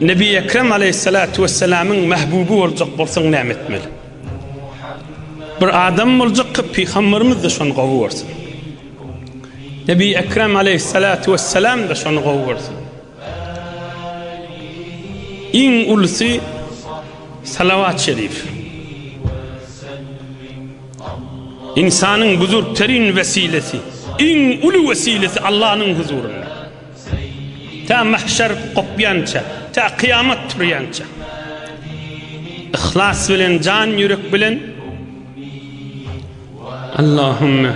Nebi Ekrem aleýhissalatu wessalamyň mähbuby boljak bolsaň näme etmeli? Bir adam boljak ki pygamberimiz-de şony gowy görsün. Nebi Ekrem aleýhissalatu wessalam-da şony gowy görsün. Iň ulusy salawat şerif. İnsanyň buzurgterin wesilesi, iň uly wesilesi Allanyň huzurynda. Tä mahşer gopýança, tä kyýamat turýança yhlas bilen, jan ýürek bilen Allahümme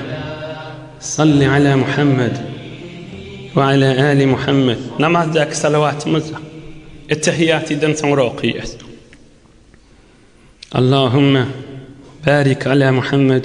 salli ala Muhammed we ala ali Muhammed namazdaky salawatymyz etehiýatydan soňra okaýas. Allahümme barik ala Muhammed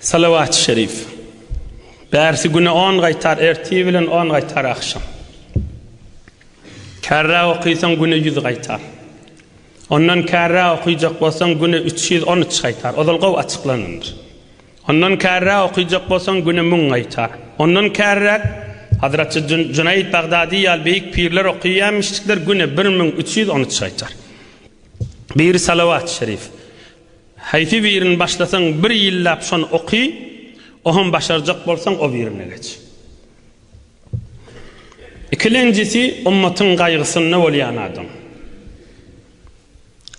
Salawat-y şerif. Bärsi güne on gaýtar ertir bilen on gaýtar agşam. Kärräk okysaň güne ýüz gaýtar. Ondan kärräk okyjak bolsaň güne üç ýüz on üç gaýtar. Ozal gowy açyklanandyr. Ondan kärräk okyjak bolsaň güne müň gaýtar. Ondan kärräk Hazraty Junaýd Bagdady ýaly beýik pirler okýaýmyşdyklar güne bir müň üç ýüz on üç gaýtar. Biri salawat-y şerif. Haýsy birini başlasaň bir ýyllap şony oky, ohem başarjak bolsaň o birine geç. Ikilenjisi ummatyň gaýgysynda bolýan adam.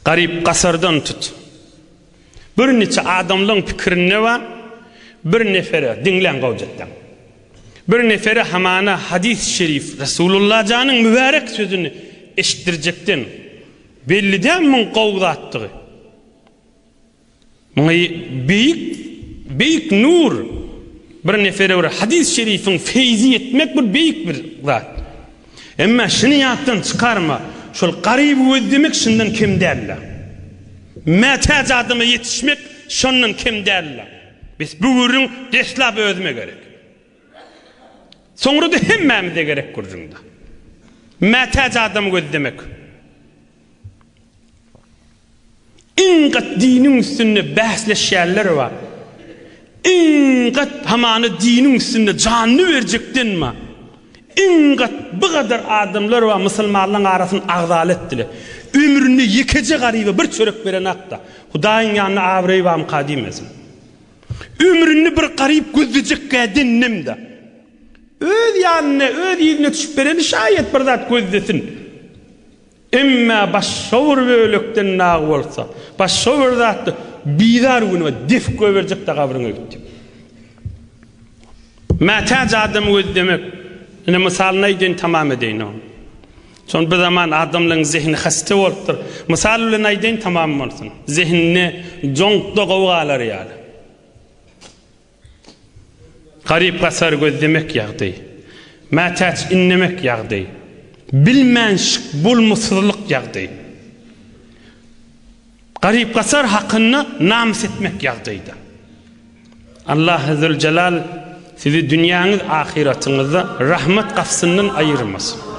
Garyp gasardan tut. Bir niçe adamlaň pikirinde ba bir nefere, diňläň gowjakdan. Bir nefere hamana hadys şerif Resulullah janyň mübärek sözüni eşitdirjekden Belli däl muň gowy zatdygy. Muňa beýik beýik nur bir nefere bir hadys şerifiň feýzi ýetmek bir beýik bir zat. Emma şuny ýatdan çykarma, şol garyby gözlemek şundan kem däl-le. Mätäç adama ýetişmek şondan kem däl-le. Bes bu gürrüň deslap özüme gerek. Soňra-da hemmämize gerek gürrüňde. Mätäç adamy gözlemek. Iň gat diniň üstünde bäsleşýänler bar. Iň gat hamana diniň üstünde janyny berjekden bar. Iň gat bu gadar adamlar bar musulmanlaryň arasyny agzaly etdiler. Ömründe ýekeje garyba bir çörek berenak-da, Hudaýyň ýanynda abraýy barmyka diýmesin. Ömründe bir garyp gözlejekkä dendem-de. Öz ýanyna, öz ýüzüne çyp bereni şaýat bir zat gözlesin. Emmä başga bir bölekden dagy bolsa, başga bir zatda bizar günüňe def goýberjek-de gabryňa gitdi. Mätäç adamy gözlemek, ine, mysalyny aýdaýyn, tamam edeýin ony. Şonda bizaman adamlaryň zehini hasta bolupdyr. Mysal bilen aýdaýyn tamam bolsun. Zehinine joňkda gowy galar ýaly. Garyp gasar gözlemek ýagdy. Mätäç inlemek ýagdy. Bilmänşik bolmasyzlyk ýagdy. Garyp gasar hakynda namys etmek ýagdyda. Allah Azzewjelal sizi dünýäňiz ahyratyňyzda rahmat gapsyndan aýyrmasyn.